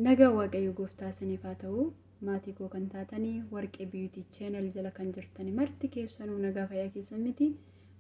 Nagaan Waaqayyo Gooftaa isiniif haa ta'u. Maatii koo kan taatanii Warqee Beauty Channel jala kan jirtani marti keessanuu nagaa fayyaa keessan miti.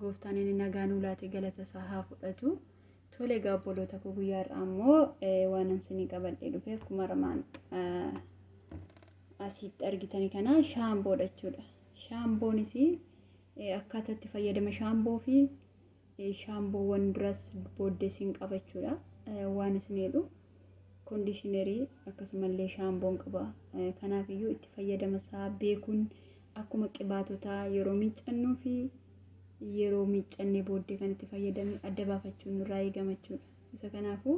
Gooftaan inni nagaa nuu laate galata isaa haa fudhatu. Tole egaa obboloota koo guyyaa har'aa immoo eh, waanan isinii qabadhee dhufe akkuma armaan eh, asitti argitani kana shaamboodha jechuudha. Shaamboonis eh, akkaataa itti fayyadama shaamboo fi shaamboowwan duras booddee siin qabachuudha waan isin jedhu koondishinerii akkasumallee shaamboon qaba kanaaf iyyuu itti fayyadama isaa beekuun akkuma qibaatotaa yeroo miiccannuu fi yeroo miiccannee booddee kan itti fayyadamnu adda baafachuun nurraa eegamachuudha isa kanaafuu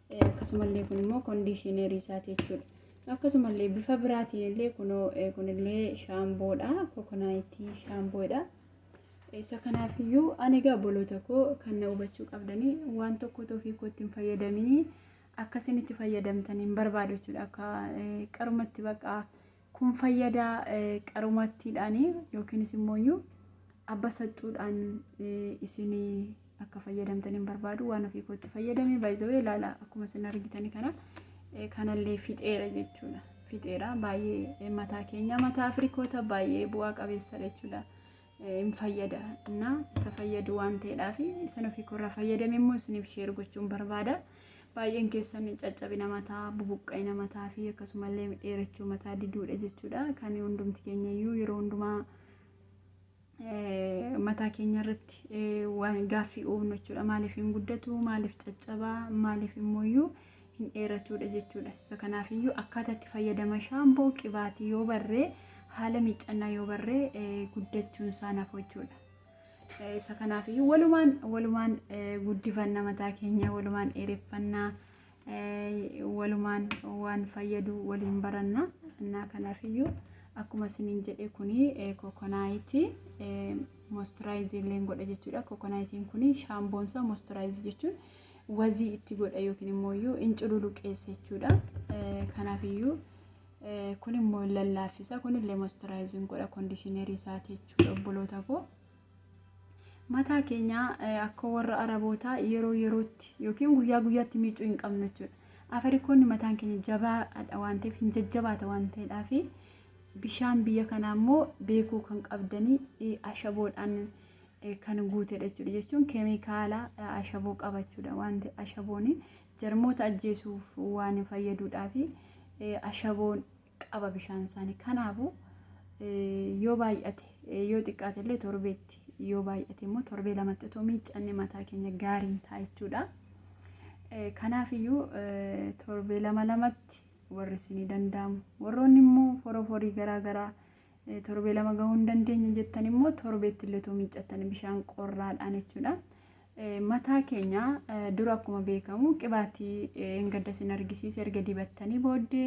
akkasumallee kun immoo kondiishineerii isaati jechuudha. Akkasumallee bifa biraatiin illee kunoo kunillee shaamboodha. Kokonaayitii shaamboodha. Isa kanaaf iyyuu ani egaa obboloota koo kan na hubachuu qabdanii waan tokko ofii kootti hin fayyadaminii akkasiin itti fayyadamtan hin barbaadu jechuudha. Akka qarumatti baqaa Kun fayyada qarumattiidhaan yookiinis immooyyuu abba saxxuudhaan isin akka fayyadamtan hin barbaadu waan ofii kootti fayyadame baay'isawee ilaala akkuma isin argitan kana kanallee fixeera jechuudha. Fixeera baay'ee mataa keenya mataa Afrikoota baay'ee bu'aa qabeessadha jechuudha. hin fayyada na isa fayyadu waan ta'eedhaaf isin ofii koorraa fayyadame immoo isiniif sheer gochuun barbaada baay'een keessan caccabina mataa bubuqqa'ina mataa fi akkasumallee dheerachuu mataa diduudha jechuudha kan hundumti keenya iyyuu yeroo hundumaa eh, mataa keenya irratti eh, waan gaaffii uumnu jechuudha maaliif hin guddatu maaliif caccabaa maaliif immoo iyyuu hin dheeratuudha jechuudha. Isa kanaafiyyuu akkaataa itti fayyadama shaampoo qibaatii yoo barree haala miiccannaa yoo barree eh, guddachuun isaa nafu jechuudha. Eh, Isa kanaafiyyuu walumaan walumaan eh, guddifanna mataa keenya walumaan dheereffannaa eh, walumaan waan fayyadu waliin baranna. Innaa kanaafiyyuu akkuma isiniin jedhe kuni eh, kokonaayitii eh, moistiraayizii illee godha jechuudha. Kokonaayitiin kuni shaamboonsaa moistiraayizii jechuun wazii itti godha yookiin immoo iyyuu in cululuqeessa jechuudha. Kanaaf iyyuu kun immoo in lallaaffisa. Kun illee moisturaayizin godha kondishinerii isaati jechuudha obboloota koo. Mataa keenya akka warra arabootaa yeroo yerootti yookiin guyyaa guyyaatti miicuu hin qabnu jechuudha. Afrikoonni mataan keenya jabaadha waan ta'eef hin jajjabaata waan ta'eedhaaf bishaan biyya kanaa immoo beekuu kan qabdanii ashaboodhaan kan guutedha jechuudha. Jechuun keemikaala ashaboo qaba jechuudha. Wanti ashaboon jarmoota ajjeesuuf waan fayyaduudhaa fi ashaboon qaba bishaan isaanii. Kanaafuu yoo baay'ate yoo xiqqaate illee torbeetti yoo baay'ate immoo torbee lamatti otoo miiccanne mataa keenya gaariin ta'a jechuudha. Kanaafiyyuu torbee lama lamatti warri isinii danda'amu. Warroonni immoo foroforii garaa garaa Torbee lama gahuu hin dandeenye jettan immoo torbeetti illee otoo miiccattan bishaan qorraadhaan jechuudha. Mataa keenya dura akkuma beekamu qibaatii hin gaddas hin argisiise erga dibattanii booddee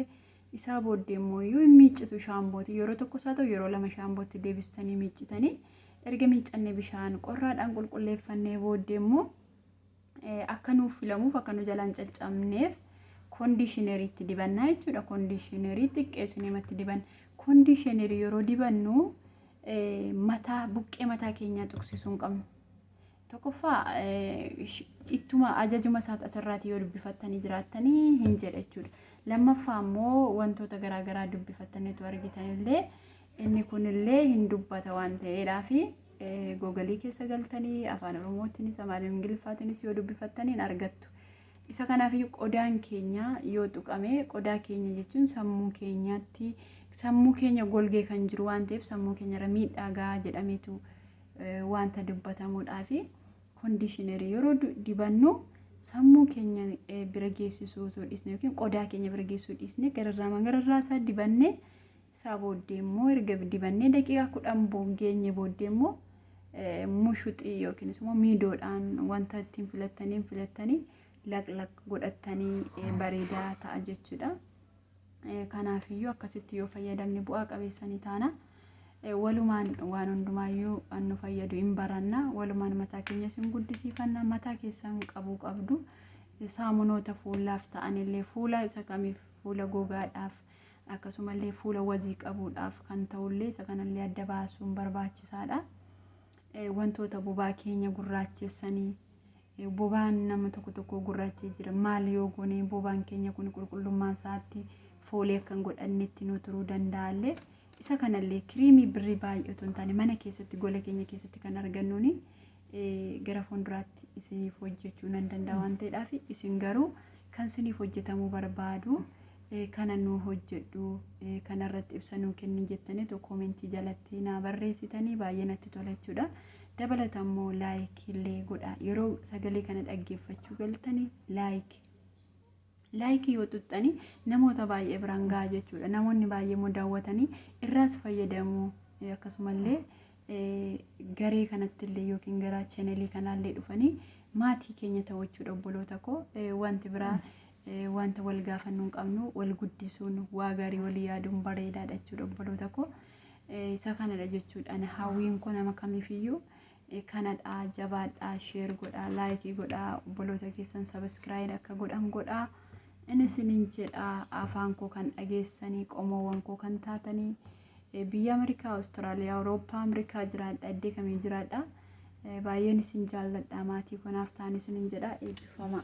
isaa booddee immoo iyyuu hin miiccitu shaambooti yeroo tokko isaa ta'u yeroo lama shaambootti deebistanii miiccitanii erga miiccannee bishaan qorraadhaan qulqulleeffannee booddee immoo akka nuuf filamuuf akka nu jalaan caccabneef kondiishineriitti dibannaa jechuudha. Kondiishinerii xiqqeessinee matti dibanna. Kondiishinerii yeroo dibannu mataa buqqee mataa keenyaa tuqsisuu hin qabnu. Tokkoffaa ittuma ajajuma isaati asirraatii yoo dubbifattanii jiraattanii hin jedha jechuudha. Lammaffaa immoo wantoota garaagaraa dubbifattaniitu argitanillee Inni kunillee hin dubbata waan ta'eedhaafi googalii keessa galtanii afaan oromootiinis afaan ingiliffaatiinis yoo dubbifattanii hin argattu. Isa kanaafiyyuu qodaan keenya yoo tuqame qodaa keenya jechuun sammuu keenyaatti sammuu keenya golgee kan jiru waan ta'eef sammuu keenyarra miidhaa gahaa jedhameetu eh, wanta dubbatamuudhaafi kondiishinerii yeroo du- dibannu sammuu keenya eh, bira geessisuu otoo dhiisne yookiin qodaa keenya bira geessuu dhiisne gararraamaan gararraa isaa dibannee isaa booddee immoo erga dibannee daqiiqaa kudhan geenye booddee immoo mushuxii yookiinis immoo miidoodhaan wanta ittiin filattaniin filattanii laqlaq godhattanii bareedaa ta'a jechuudha. Kanaafiyyuu akkasitti yoo fayyadamne bu'aa qabeessanii taana. Walumaan waan hundumaayyuu nu fayyadu hin baranna. Walumaan mataa keenyas hin guddisiifanna. Mataa keessan qabuu qabdu. Saamunoota fuulaaf ta'anillee fuula isa kamiif fuula gogaadhaaf Akkasumallee fuula wazii qabuudhaaf kan ta'ullee isa kanallee adda baasuun barbaachisaadha. Wantoota bobaa keenya gurraachessanii bobaan nama tokko tokko gurraachee jira. Maal yoo goone bobaan keenya kun qulqullummaa isaatti foolii akka hin godhannetti nu turuu danda'allee isa kanallee kiriimii birrii baay'ee otoo hin taane mana keessatti gola keenya keessatti kan argannuuni gara fuulduraatti isiniif hojjechuu nan danda'a waan ta'eedhaaf isin garuu kan isiniif hojjetamuu barbaadu kana nuu hojjedhu kanarratti ibsa nuu kenni jettanii tokko koomentii jalatti naa barreessitanii baay'ee natti tola jechuudha. Dabalata immoo laayik illee godha yeroo sagalee kana dhaggeeffachuu galtanii laayik laayikii yoo tuttanii namoota baay'ee biraan gahaa jechuudha namoonni baay'ee immoo daawwatanii irraas fayyadamuu akkasumallee garee kanattillee yookiin gara chanelii kanaallee dhufanii maatii keenya ta'u jechuudha obboloota koo wanti biraa wanta wal gaafannuu hin qabnu wal guddisuun waa gaarii walii yaaduun bareedaadha jechuudha obboloota koo isa kanadha jechuudha ani hawwiin koo nama kamiifiyyuu kanadha jabaadha sheer godha laayikii godha obboloota keessan sabiskiraayid akka godhan godha inni isinin jedha afaan koo kan dhageessanii qomoowwan koo kan taatanii Biyya Amerikaa, Awustiraaliyaa, Awurooppaa, Amerikaa jiraadha, iddee kamii jiraadha. Baay'een isin jaalladha, maatii konaaf ta'an isinin jedha, eebbifamaa.